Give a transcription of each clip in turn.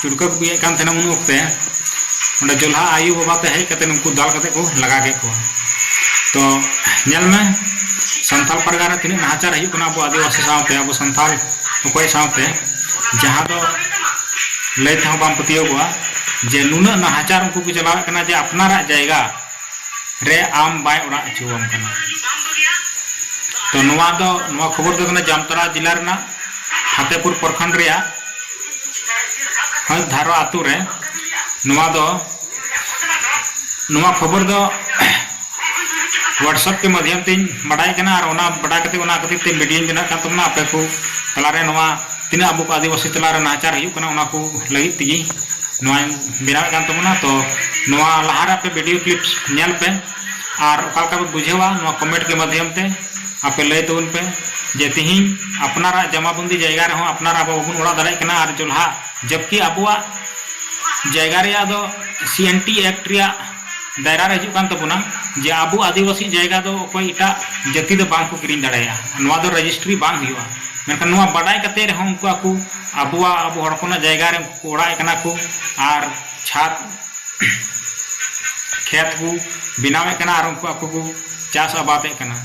ᱪᱩᱞᱠᱟᱹ ᱠᱚ ᱵᱤᱭᱮᱫ ᱠᱟᱱ ᱛᱟᱦᱮᱱᱟ ᱩᱱ ᱚᱠᱛᱮ ᱚᱸᱰᱮ ᱡᱚᱞᱦᱟ ᱟᱭᱳ ᱵᱟᱵᱟ ᱛᱮ ᱦᱮᱡ ᱠᱟᱛᱮ ᱩᱱᱠᱩ ᱫᱟᱞ ᱠᱟᱛᱮ ᱠᱚ ᱞᱟᱜᱟ ᱠᱮᱫ ᱠᱚᱣᱟ ᱛᱚ ᱧᱮᱞ ᱢᱮ ᱥᱟᱱᱛᱟᱞ ᱯᱟᱨᱜᱟᱱᱟ ᱨᱮ ᱛᱤᱱᱟᱹᱜ ᱱᱟᱦᱟᱪᱟᱨ ᱦᱩᱭᱩᱜ ᱠᱟᱱᱟ ᱟᱵᱚ ᱟᱹᱫᱤᱵᱟᱹᱥᱤ ᱥᱟᱶᱛᱮ ᱟᱵᱚ ᱥᱟᱱᱛᱟᱞ ᱚᱠᱚᱭ ᱥᱟᱶᱛᱮ ᱡᱟᱦᱟᱸ ᱫᱚ ᱞᱟᱹᱭ ᱛᱮᱦᱚᱸ ᱵᱟᱢ ᱯᱟᱹᱛᱭᱟᱹᱣᱚᱜᱼᱟ ᱡᱮ ᱱᱩᱱᱟᱹᱜ ᱱᱟᱦᱟᱪᱟᱨ ᱩᱱᱠᱩ ᱠᱚ ᱪᱟᱞᱟᱣᱮᱫ ᱠᱟᱱᱟ ᱡᱮ ᱟᱯᱱᱟᱨᱟᱜ ᱡᱟᱭᱜᱟ ᱨᱮ ᱟᱢ ᱵᱟᱭ ᱚᱲᱟᱜ ᱦᱚᱪᱚᱣᱟᱢ ᱠᱟᱱᱟ ᱛᱚ ᱱᱚᱣᱟ ᱫᱚ ᱱᱚᱣᱟ ᱠᱷᱚᱵᱚᱨ ᱫᱚ ᱠᱟᱱᱟ ᱡᱟᱢᱛᱟᱲᱟ ᱡᱮᱞᱟ ᱨᱮᱱᱟᱜ ᱯᱷᱟᱛᱮᱯᱩᱨ ᱯᱨᱚᱠᱷᱚᱸᱰ ᱨᱮᱭᱟᱜ ᱦᱟᱹᱥ ᱫᱷᱟᱨᱣᱟ ᱟᱛᱳ ᱨᱮ ᱱᱚᱣᱟ ᱫᱚ ᱱᱚᱣᱟ ᱠᱷᱚᱵᱚᱨ ᱫᱚ ᱦᱳᱣᱟᱴᱥᱮᱯ ᱠᱮ ᱢᱟᱫᱽᱫᱷᱚᱢ ᱛᱮᱧ ᱵᱟᱰᱟᱭ ᱠᱟᱱᱟ ᱟᱨ ᱚᱱᱟ ᱵᱟᱰᱟᱭ ᱠᱟᱛᱮ ᱚᱱᱟ ᱠᱷᱟᱹᱛᱤᱨ ᱛᱮ ᱢᱤᱰᱤᱭᱟᱧ ᱵᱮᱱᱟᱜ ᱠᱟᱱ ᱛᱟᱵᱚᱱᱟ ᱟᱯᱮ ᱠᱚ ᱛᱟᱞᱟᱨᱮ ᱱᱚᱣᱟ ᱛᱤᱱᱟᱹᱜ ᱟᱵᱚ ᱠᱚ ᱟᱹᱫᱤᱵᱟᱹᱥᱤ ᱛᱟᱞᱟᱨᱮ ᱱᱟᱦᱟᱪᱟᱨ ᱦᱩᱭᱩᱜ ᱠᱟᱱᱟ ᱚᱱᱟ ᱠᱚ ᱞᱟᱹᱜᱤᱫ ᱛᱮᱜᱮ ᱱᱚᱣᱟᱧ ᱵᱮᱱᱟᱣᱮᱫ ᱠᱟᱱ ᱛᱟᱵᱚᱱᱟ ᱛᱚ ᱱᱚᱣᱟ ᱞᱟᱦᱟᱨᱮ ᱟᱯᱮ ᱵᱷᱤᱰᱤᱭᱳ ᱠᱞᱤᱯᱥ ᱧᱮᱞ ᱯᱮ ᱟᱨ ᱚᱠᱟ ᱞᱮᱠᱟ ᱯᱮ ᱵᱩᱡᱷᱟᱹᱣᱟ ᱱᱚᱣᱟ ᱠᱚᱢᱮᱱᱴ ᱠᱮ ᱢᱟᱫᱷᱭᱚᱢ ᱛᱮ ᱟᱯᱮ ᱞᱟᱹᱭ ᱛᱟᱵᱚᱱ ᱯᱮ ᱡᱮ ᱛᱤᱦᱤᱧ ᱟᱯᱱᱟᱨᱟᱜ ᱡᱟᱢᱟᱵᱚᱱᱫᱤ ᱡᱟᱭᱜᱟ ᱨᱮᱦᱚᱸ ᱟᱯᱱᱟᱨ ᱟᱵᱚ ᱵᱟᱵᱚᱱ ᱚᱲᱟᱜ ᱫᱟᱲᱮᱭᱟᱜ ᱠᱟᱱᱟ ᱟᱨ ᱡᱚᱞᱦᱟ ᱡᱚᱵᱠᱤ ᱟᱵᱚᱣᱟᱜ ᱡᱟᱭᱜᱟ ᱨᱮᱭᱟᱜ ᱫᱚ ᱥᱤ ᱮᱱ ᱴᱤ ᱮᱠᱴ ᱨᱮᱭᱟᱜ ᱫᱟᱭᱨᱟ ᱨᱮ ᱦᱤᱡᱩᱜ ᱠᱟᱱ ᱛᱟᱵᱚᱱᱟ ᱡᱮ ᱟᱵᱚ ᱟᱹᱫᱤᱵᱟᱹᱥᱤ ᱡᱟᱭᱜᱟ ᱫᱚ ᱚᱠᱚᱭ ᱮᱴᱟᱜ ᱡᱟᱹᱛᱤ ᱫᱚ ᱵᱟᱝ ᱠᱚ ᱠᱤᱨᱤᱧ ᱫᱟᱲᱮᱭᱟᱜᱼᱟ ᱱᱚᱣᱟ ᱫᱚ ᱨᱮᱡᱤᱥᱴᱨᱤ ᱵᱟᱝ ᱦᱩᱭᱩᱜᱼᱟ ᱢᱮᱱᱠᱷᱟᱱ ᱱᱚᱣᱟ ᱵᱟᱰᱟᱭ ᱠᱟᱛᱮᱫ ᱨᱮᱦᱚᱸ ᱩᱱᱠᱩ ᱟᱠᱚ ᱟᱵᱚᱣᱟᱜ ᱟᱵᱚ ᱦᱚᱲ ᱦᱚᱯᱚᱱᱟᱜ ᱡᱟᱭᱜᱟ ᱨᱮ ᱩᱱᱠᱩ ᱠᱚ ᱚᱲᱟᱜ ᱮᱫ ᱠᱟᱱᱟ ᱠᱚ ᱟᱨ ᱪᱷᱟᱫᱽ ᱠᱷᱮᱛ ᱠᱚ ᱵᱮᱱᱟᱣᱮᱫ ᱠᱟᱱᱟ ᱟᱨ ᱩᱱᱠᱩ ᱟᱠᱚ ᱠᱚ ᱪᱟᱥ ᱟᱵᱟᱫᱮᱫ ᱠᱟᱱᱟ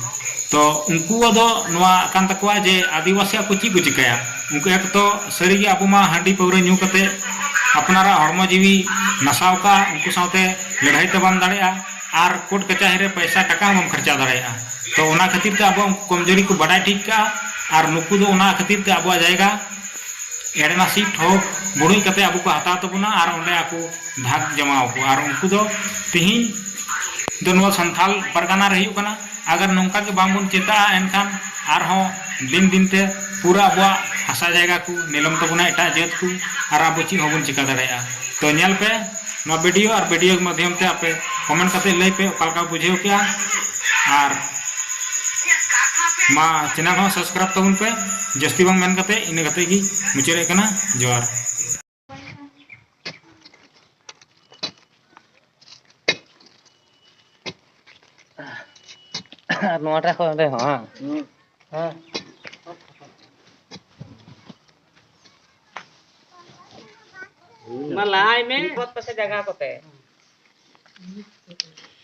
ᱛᱚ ᱩᱱᱠᱩᱣᱟᱜ ᱫᱚ ᱱᱚᱣᱟ ᱠᱟᱱ ᱛᱟᱠᱚᱣᱟ ᱡᱮ ᱟᱹᱫᱤᱵᱟᱹᱥᱤᱭᱟᱜ ᱠᱚ ᱪᱮᱫ ᱠᱚ ᱪᱤᱠᱟᱹᱭᱟ ᱩᱱᱠᱩ ᱮᱠᱛᱚ ᱥᱟᱹᱨᱤᱜᱮ ᱟᱵᱚ ᱢᱟ ᱦᱟᱺᱰᱤ ᱯᱟᱹᱣᱨᱟᱹ ᱧᱩ ᱠᱟᱛᱮ ᱟᱯᱱᱟᱨᱟᱜ ᱦᱚᱲᱢᱚ ᱡᱤᱣᱤ ᱱᱟᱥᱟᱣ ᱠᱟᱜᱼᱟ ᱩᱱᱠᱩ ᱥᱟᱶᱛᱮ ᱞᱟᱹᱲᱦᱟᱹᱭ ᱛᱚ ᱵᱟᱢ ᱫᱟᱲᱮᱭᱟᱜᱼᱟ ᱟᱨ ᱠᱳᱴ ᱠᱟᱪᱟᱦᱤ ᱨᱮ ᱯᱚᱭᱥᱟ ᱴᱟᱠᱟ ᱦᱚᱸ ᱵᱟᱢ ᱠᱷᱚᱨᱪᱟ ᱫᱟᱲᱮᱭᱟᱜᱼᱟ ᱛᱚ ᱚᱱᱟ ᱠᱷᱟᱹᱛᱤᱨ ᱛᱮ ᱟᱵᱚᱣᱟᱜ ᱠᱚᱢᱡᱩᱨᱤ ᱠᱚ ᱵᱟᱰᱟᱭ ᱴᱷᱤᱠ ᱠᱟᱜᱼᱟ ᱟᱨ ᱱᱩᱠᱩ ᱫᱚ ᱚᱱᱟ ᱠᱷᱟᱹᱛᱤᱨ ᱛᱮ ᱟᱵᱚᱣᱟᱜ ᱡᱟᱭᱜᱟ ᱮᱲᱮ ᱱᱟᱥᱤ ᱴᱷᱚᱠ ᱵᱩᱲᱩᱡ ᱠᱟᱛᱮ ᱟᱵᱚ ᱠᱚ ᱦᱟᱛᱟᱣ ᱛᱟᱵᱚᱱᱟ ᱟᱨ ᱚᱸᱰᱮ ᱟᱠᱚ ᱵᱷᱟᱜᱽ ᱡᱚᱢᱟᱣ ᱠᱚᱣᱟ ᱟᱨ ᱩᱱᱠᱩ ᱫᱚ ᱛᱤᱦᱤᱧ ᱫᱚ ᱱᱚᱣᱟ ᱥᱟᱱᱛᱷᱟᱞ ᱯᱟᱨᱜᱟᱱᱟ ᱨᱮ ᱦᱩᱭᱩᱜ ᱠᱟᱱᱟ ᱟᱜᱟᱨ ᱱᱚᱝᱠᱟ ᱜᱮ ᱵᱟᱝᱵᱚᱱ ᱪᱮᱛᱟᱜᱼᱟ ᱮᱱᱠᱷᱟᱱ ᱟᱨᱦᱚᱸ ᱫᱤᱱ ᱫᱤᱱ ᱛᱮ ᱯᱩᱨᱟᱹ ᱟᱵᱚᱣᱟᱜ ᱦᱟᱥᱟ ᱡᱟᱭᱜᱟ ᱠᱚ ᱱᱤᱞᱚᱢ ᱛᱟᱵᱚᱱᱟ ᱮᱴᱟᱜ ᱡᱟᱹᱛ ᱠᱚ ᱟᱨ ᱟᱵᱚ ᱪᱮᱫ ᱦᱚᱸ ᱵᱟᱵᱚᱱ ᱪᱤᱠᱟᱹ ᱫᱟᱲᱮᱭᱟᱜᱼᱟ ᱛᱚ ᱧᱮᱞ ᱯᱮ ᱱᱚᱣᱟ ᱵᱷᱤᱰᱤᱭᱳ ᱟᱨ ᱵᱷᱤᱰᱤᱭᱳ ᱢᱟᱫᱽᱫᱷᱚᱢ ᱛᱮ ᱟᱯᱮ ᱠᱚᱢᱮᱱᱴ ᱠᱟᱛᱮ ᱞᱟᱹᱭ ᱯᱮ ᱚᱠᱟ ᱞᱮᱠᱟ ᱵᱩᱡᱷᱟᱹᱣ ᱠᱮᱜᱼᱟ ᱟᱨ ᱢᱟ ᱪᱮᱱᱮᱞ ᱦᱚᱸ ᱥᱟᱵᱥᱠᱨᱟᱭᱤᱵᱽ ᱛᱟᱵᱚᱱ ᱯᱮ ᱡᱟᱹᱥᱛᱤ ᱵᱟᱝ ᱢᱮᱱ ᱠᱟᱛᱮ ᱤᱱᱟᱹ ᱠᱟᱛᱮ ᱜᱮ ᱢᱩᱪᱟᱹᱫᱮᱫ ᱠᱟᱱᱟ ᱡᱚᱦᱟᱨ ᱟᱨ ᱱᱚᱣᱟᱴᱟᱜ ᱠᱷᱚᱱ ᱚᱸᱰᱮ ᱦᱚᱸ ᱵᱟᱝ ᱦᱮᱸ ᱢᱟ ᱞᱟᱦᱟᱭ ᱢᱮ ᱵᱚᱛ ᱯᱟᱥᱮ ᱡᱟᱭᱜᱟ ᱠᱚᱛᱮ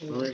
ᱦᱳᱭ